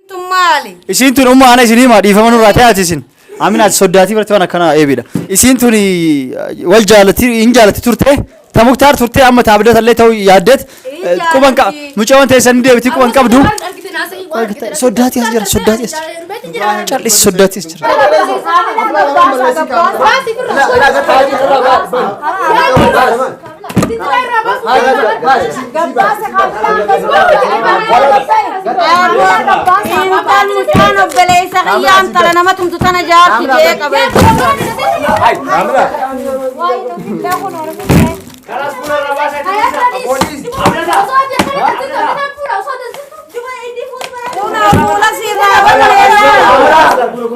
Tun maali? Isiin tun umma ana isin hima dhiifama nurraa ta'aati isin. Amin ati soddaatii barti waan akkanaa eebidha. Isiin tun wal jaalatti hin jaalatti turte. Ta muktaar turte amma ta abdata illee ta'uu yaaddeet. Quban qa mucawan ta'e san deebiti quban qabdu. Soddaatii as jira soddaatii as jira. Callis soddaatii as jira. Baasi birra. Intal mucaan obboleessa kiyyaa intala nama tumtu tana jaarsi jee qabe. Fuula fuula sirraa balleessa.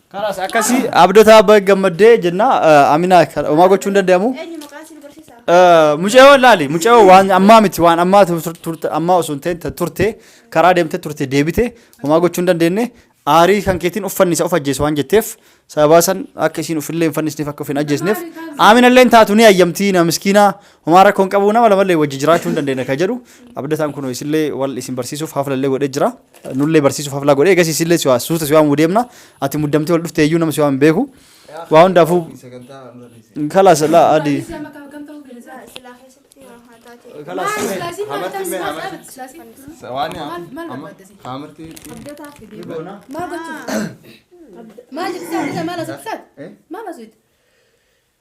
Kanas akkasi abdataa baga gammaddee jenna aminaa homaa gochuu hin danda'amu. Eenyu maqaan si nu barsiisa? Mucayoo laali mucayoo waan ammaa miti waan ammaa tur- turte ammaa osoo hin ta'in ta- turte karaa deemte turte deebite homaa gochuu hin dandeenye aarii kan keetiin uffanni isa of ajjeesu waan jetteef sababaa san akka isiin ufillee hin fannisneef akka of hin ajjeesneef aaminallee hin taatu ni ayyamtii na miskiinaa homaa rakkoon qabu nama lamallee wajji jiraachuu hin dandeenye ka jedhu abdataan kun isillee wal isin barsiisuuf haflallee godhee jira. Nullee barsiisuuf haflaa godhee eegas isillee siwaa suuta siwaa muu deemna ati muddamtee ol dhuftee iyyuu nama siwaa hin beeku waa hundaafuu kalaas laa adii Maal jechaa maal asittaa maal asittaa.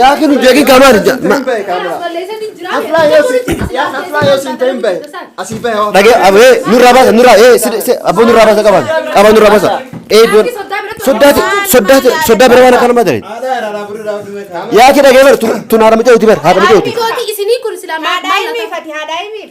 yaa kinu jeegi gamaan ja ma- dhage abee nurraa baasa nurraa ee si si abboo nurraa baasa qaban qaban nurraa baasa ee doon soddaati soddaati soddaa bira waan akkana madare yaa ki dhagee bar tun haadha micaa uti bar haadha micaa uti Haadha ilmiif ati haadha ilmiif.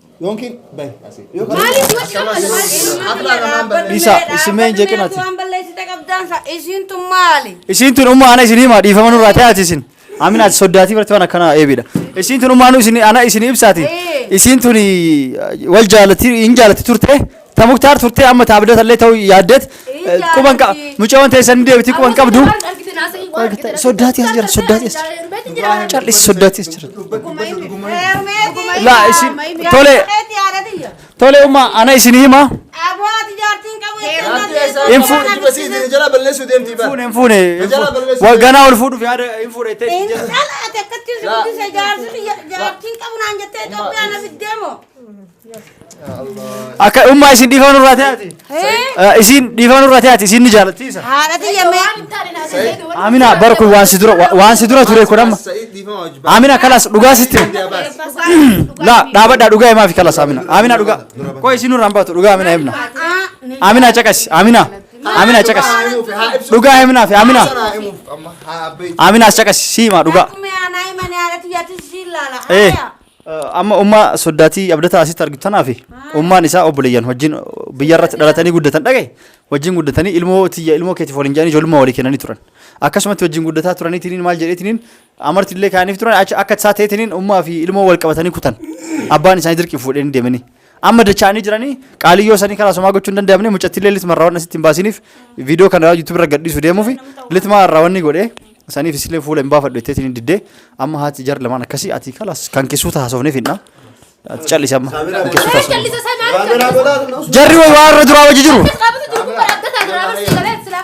Yookiin bahi asii. Maaliif wajji ammas maaliif Isa, isimee hin jeqinati. Waan balleessite qabdaan sa isiintu maali? Isiin tun umma ana isinii maa dhiifama nurraa ta'e ati isin. Amin ati soddaatii barti waan akkanaa eebidha. Isiin tun umma anu isin ana isinii ibsaati. Ee. Isiin tun wal jaalatti hin jaalatti turte. Ta Muktaar turtee amma ta Abdata illee ta'uu yaaddeet eh, quban qa- mucayoon teessan ni deebiti quban qabdu. Soddaati as jira soddaati as jira. Callis soddaati as jira. Laa isin tole tole umma ana isin hima hin fu- Jala balleessuu deemti bara. fuune hin fuune hin Jala fuune. balleessu. Wa- ganaa ol fuudhuuf yaada hin fuudhe itti jechuudha. Akka ummaa isin dhiifama nurraa ta'aati. Isin dhiifama nurraa ta'aati isin ni jaalattiisa. Haadha tiyya mee. Amina bara kun waan si dura wa- waan si dura ture kun amma. Sa'id dhiifama wajjin baasa. Amina kalas dhugaa sitti. La dhaabadhaa dhugaa himaa fi kalas Amina. Amina dhugaa. Koo isin nurraan baatu dhugaa Amina himna. Amina caqasi Amina. Amina caqasi. Dhugaa himnaa fi Amina. Sanaa himuuf amma haa abbeetti. Amina as caqasi si himaa dhugaa. Akkuma yaanaa himanii haadha tiyyaatti siin laala. Eh. Haaya. Amma ummaa soddaatii abdataa asitti argitu tanaa fi ummaan isaa obboleeyyan wajjin biyya irratti dhalatanii guddatan dhagaye wajjin guddatanii ilmoo tiyya ilmoo keetiif waliin jedhanii ijoollummaa walii kennanii turan. Akkasumatti wajjin guddataa turaniitiin maal jedheetiin amarti illee kaaniif turan achi akka isaa ta'eetiin ummaa fi ilmoo wal qabatanii kutan abbaan isaanii dirqiin fuudhanii deemanii. Amma dachaanii jiranii qaaliyyoo isanii karaa somaa gochuu hin danda'amne mucattillee litma irraa wanna sitti hin baasiniif viidiyoo kana yuutuub irra gadhiisu deemuufi litma irraa wanni godhe saniif isillee fuula hin baafadhu jetteetiin hin diddee amma haati jar lamaan akkasii ati kalas kan kessuu taasofneef hin dhaa. Ati callisi amma kan kessuu taasofneef. Jarri waan irra duraa wajji jiru. Qaabatu jiru kun akka taatu raawwatu sagalee silaa.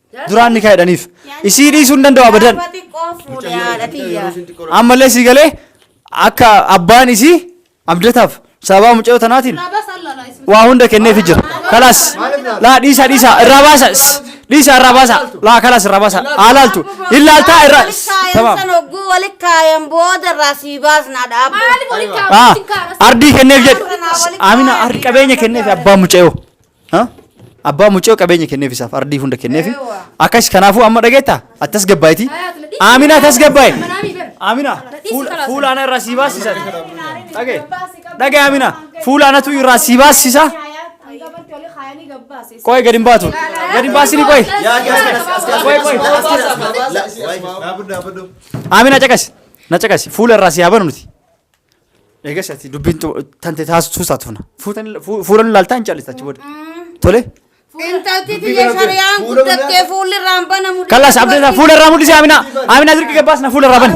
duraan nikaa hidhaniif isii dhiisuu hin danda'u abadan Gaafa xiqqoo fuudhe haadha tiyya. ammallee sii galee akka abbaan isii abdataaf sababa mucayyoo tanaatiin waa hunda kenneefi jira kalaas laa dhiisaa dhiisaa irraa baasa dhiisaa irraa baasa laa kalaas irraa baasa haa laaltu hin laaltaa irraa tamaam San hogguu walitti kaayan booda irraa sii baasnaa dhaabbu. Maaliif walitti Ah, kaa'amuu itti hin kaa'amas? ardii kenneef jedhe Amina ardi qabeenya kenneef abbaan mucayyoo Ha? Abbaa mucoo qabeenya kenneef isaaf ardii hunda kenneef. Eewwa. Akkas kanaafuu amma dhageetta attas gabbaayiti. Aaminaa tas gabbaay. Aaminaa fuula- fuula ana irraa sii baasisa. Dhagee dhagee Aaminaa fuula anatu irraa sii baasisa. Qoy gadi hin baatu. Gadi hin baasini qoy. Qoy qoy. Aaminaa caqasi. Na caqasi. Fuula irraa sii haa banu nuti. Eegas ati dubbiin tu- tante taasisuu isaatu fana. Fuutan- fu- Fuulan ilaaltaa hin caallistu achi booda. Tole. Intalti Dubbii biyya kana shari'aan fuula guddattee mul'ata. fuulli irraan banamu. Kallaas abdata fuula irraa mul'isi Amina. Amina dirqi gabbaasna fuula irraa bani.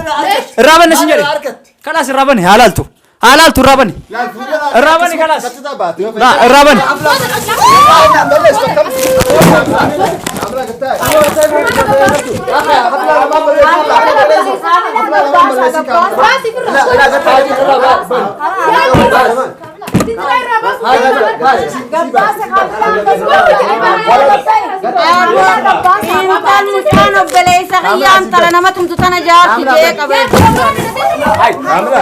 Irraa bani sin jedhe. Kallaas irraa bani haa laaltu. Haa laaltu irraa bani. Irraa bani kallaas. Naa, Irraa bani. Amla Intal mucaan obboleessa kiyyaa intala nama tumtu tana jaarsi jee qabee. Ay, Amina.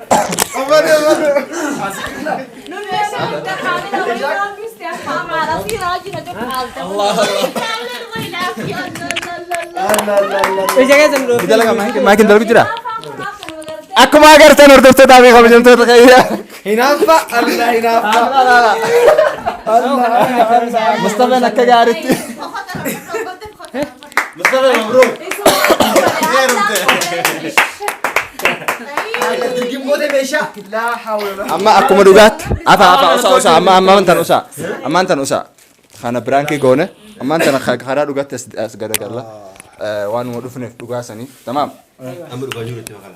Maakin darbi jira. Akkuma agartan hordoftoota fi kabajamtoota kayya. Hinaaffa Allah hinaaffa. Mustafaan akka gaariitti. Mustafa Mabruk. Amma akkuma dhugaatti. Afa afa usa usa amma amma tan usa. Amma tan usa. Kana biraankii goone. Amma tan karaa dhugaatti as garagalla. Waan nu dhufneef dhugaa sanii. Tamaam. Amma dhugaa jiru itti makala.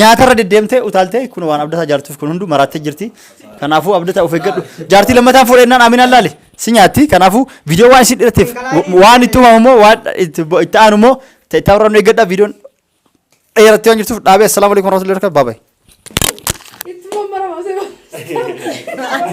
Nyaatarra deddeemtee utaaltee kun waan abdataa jaartuuf kun hunduu maraattee jirti. Kanaafuu abdataa of eeggadhu. Jaartii lammataan fuudhee naan Aminaan laali. Si nyaatti. Kanaafuu viidiyoo waan isin dhiratteef waan itti uumamu immoo waan itti itti aanu immoo ta'e itti aanu eeggadha viidiyoon dheerattee waan jirtuuf dhaabee assalaamu alaikum warahmatullahi wabarakatuh. Bye bye. Itti mammaramase.